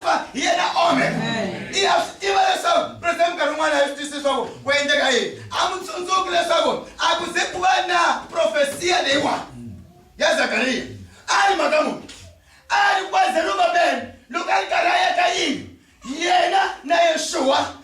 fa hi yena amen i ya swi tiva leswaku president nkarhi wun'wana a swi twisisi leswaku ku endleka yini a n'wi tsundzuki leswaku a ku ze ku va na profesiya leyiwani ya zakariya a ri mhaka munhu a ri kwa zerubabele loko a ri karhi a yaka yini yena na yexuwa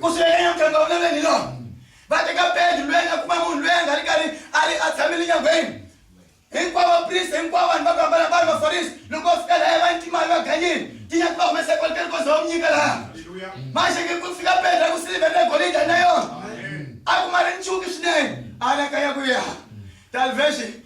ku swi veka nyamuganga wa maveni hi lona va teka bedi lweyi nga kuma munhu lweyi a nga ri karhi a ri a tshamile nyangweni hinkwavo vaprista hinkwavo vanhu va ku hambana va ri vafarisi loko va fika laya va ni timali va ganyini tinyaki va humesa ekoliteni koze va mu nyika laha maxeke ku fika bedi ra ku silivhere na golida na yona a kuma ri nchuki swinene anakanya ku ya talvexi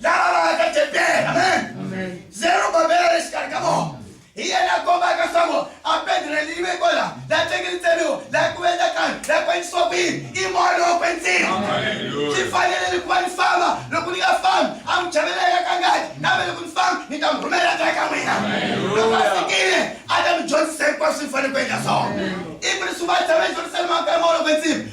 lava va nga ka tempele amen zero babela le xikarhi ka vona hi yena a kombaka swaku a pedreli yi veko la la tlekelitseriwa la ku endla kani la ku endlisiwa ku yini i moya lowo kwenzini swi fanele ni ku va ni famba loko ni nga fambi a n'wi chavela eka ka ngati kambe loko ni fambi ni ta n'wi rhumela ta eka n'wina loko a fikile a ta mi dyondzisa hinkwaswo swi fanele ku endla swona i ku ni swi va tshama ejerusalema ka moya lowo kwenzini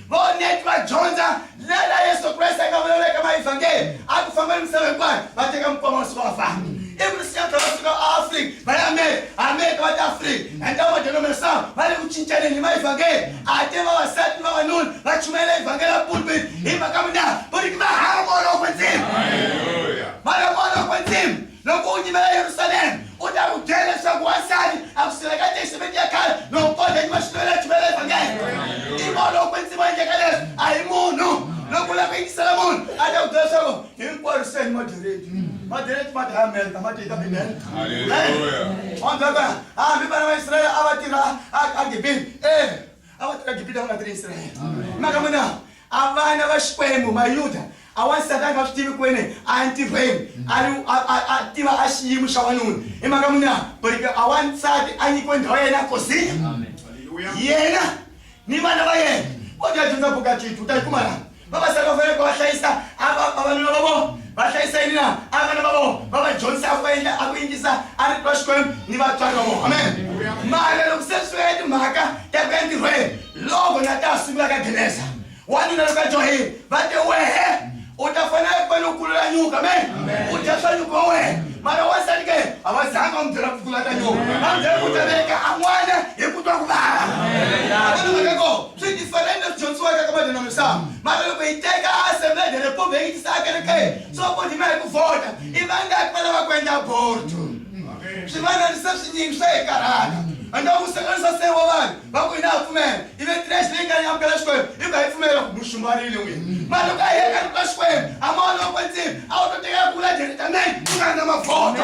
Vaoneti va dyondza ndlela Yesu Kreste a nga vulavula eka Maevhangeli a ku famba ni misava hinkwayo va teka mikwama wa suka va famba ivi ni siya tlhela va suka aafrika va ya amerika amerika va ta afrika endla vamadyondza misava va le ku cincaneni hi Maevhangeli a te vavasati ni vavanuna va chumayela Evhangeli ya pulpit hi mhaka mina vuriki va hava ku olova ndzima va lava ku olova ndzima Loko u nyimela Yerusalema, u ta n'wi byela leswaku wansati a ku sirheka Testamente ya khale loko ko dya nyima swinene a chuvela evhangeli. I mona loko kwetsima a endleka leswi a hi munhu. Loko u lava ku yingisela munhu a ta ku byela leswaku hinkwaro se ni moderate. Moderate ma dlaya Amerika ma tiyita Bibele. Haleluya. Wa mi byela ku hambi vana va Israyele a va tirha a Gibini. E a va tirha gibita va nga tirhi israyele maka vona a vana va xikwembu mayuda a wansati a nga swi tivi ku wene a ya ntirhweni a tiva a xiyimo xa wanuna hi maka vona but a wansati a nyikiwe ndhawu ya yena kosini yena ni vana va yena o ta dyondza buka titwi u ta yi kuma laha vavasati va fanele ku va hlayisa a va- vavanuna va vona va hlayisa yini na a vana va vona va va dyondzisa ku va endla a ku yingisa a ri twa xikwembu ni vatswari va vona amen mara loko se swi ya timhaka ta ku ya ntirhweni loko na ta sungula ka geneza wanuna loko a dyohile va te wehe u ta fanele ku va loko kulula nyuka amen u dya swa nyuka wa wena mara wansati ke a va zanga va n'wi byela ku kula ka nyuka va n'wi byela ku ta veka an'wana hi ku twa ku vava a va ni mhaka kona Swi diferente na ku dyondzisiwaka ka vanhu namuhla. Mara loko hi teka Assembleia da República hi yi tisa ekerekeni, swo vodima hi ku vhota, i vangaki va lava ku endla aborto? Swivanani se swi nyingi swa hi karhata. Ende u hlanganisa se wa vanhu, va ku hina ha pfumela, ivi trash leyi nga ni amukela Xikwembu, i ku ha yi pfumela ku mu xumbarile n'wina. Mara loko a hi yeka loko ka Xikwembu, a ma wona wa kwetsima, a wu to teka ku vula directamente ku nga ri na mavhota.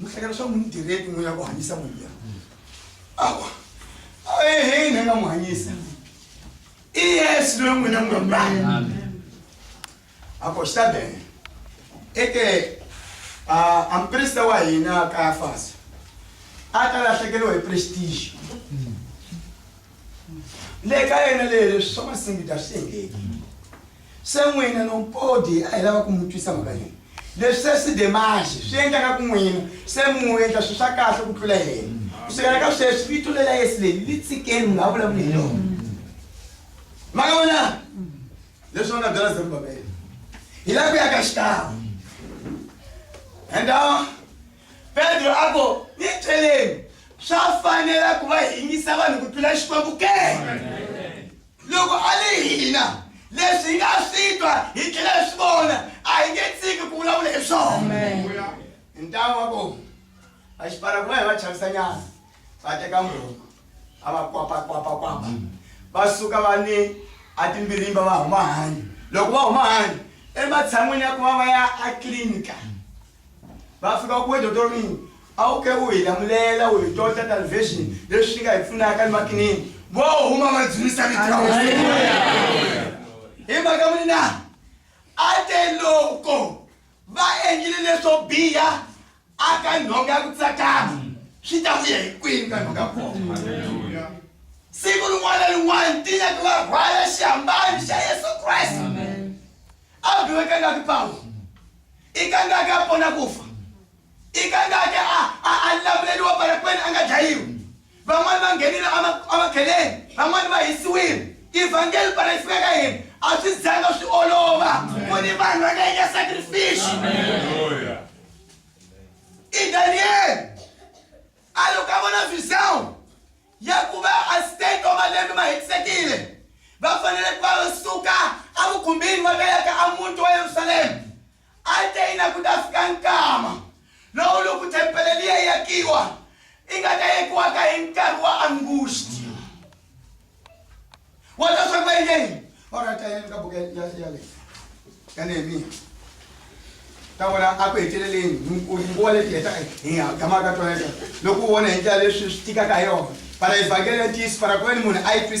muhlekela swa n'wi direki n'wi ya ku hanyisa munhu ya awa aehe ne nga n'wi hanyisa i yesu loyi n'wina n'wi mbani ako xi ta bene eke a a mprista wa hina kayafasa a ta lahlekeriwa hi prestige le ka yena le leswi swa masingita swi engeki Se n'wina no mpodi a hi lava ku mu twisa mhaka leyi. Leswi se swi de maxi, swi endla nga ku n'wina se mu endla swilo swa kahle ku tlula yena. Ku sukela ka sweswi vito le la Yesu leri li tshikeni, mi nga ha vulavuli hi lona. Ma nga vona? Leswi va nga byela Zerubabele. Hi lava ku ya ka xikan'we. And uh, Pedro a ku, ni byeleni, swa fanela ku va hingisa vanhu ku tlula Xikwembu ke? Loko a ri hina, leswi hi nga swi twa hi tlhela hi swi vona a hi nge tshiki ku vulavula hi swona. Hi ntanga wa kona, vaxipara kun'wana va chavisanyana, va teka murhungu, a va kwapa-kwapa-kwapa, va suka va ni atimbirimba va huma handle. Loko va huma handle, ematshan'wini ya ku va va ya atliliniki, va fika ku wena doctor mini a wu ke u hi lamulela u hi tota television leswi swi nga hi pfunaka ni makinini vo huma va dzunisa hi mhaka muni na a te loko va endlile leswo biha a ka nhonga ya ku tsakama swi ta vuya hi kwini ka nhonga kona siku rin'wana rin'wana tinya ti va rhwala xihambani xa yesu kreste a biwekangaki pawulo i kangaki a pona ku fa i kangaki a a a lamuleriwa barakweni a nga dlayiwi van'wani va nghenile emakheleni van'wani va hisiwile evhangeli para yi fika ka hina a swi zanga swi olova ku ni vanhu va nga endla sacrifice i daniyele a loko a vona visawu ya ku va Azteka wa malembe ma hetisekile va fanele ku va va suka evukhumbini va ta ya ka emuti wa Yerusalema ateyina ku ta fika nkama lowu loko thempele liya yakiwa i nga ta yekiwaka hi nkarhi wa Angusti. wata swa ku yini orata yena ka buku ya leyi ya nehemiya ta vona a ku heteleleni nguva leti heta tamaka ka tona loko u vona hi ndlela leswi swi tikaka hi yona para evhangeli ya ntiyiso para ku veni munhu a yi twisisa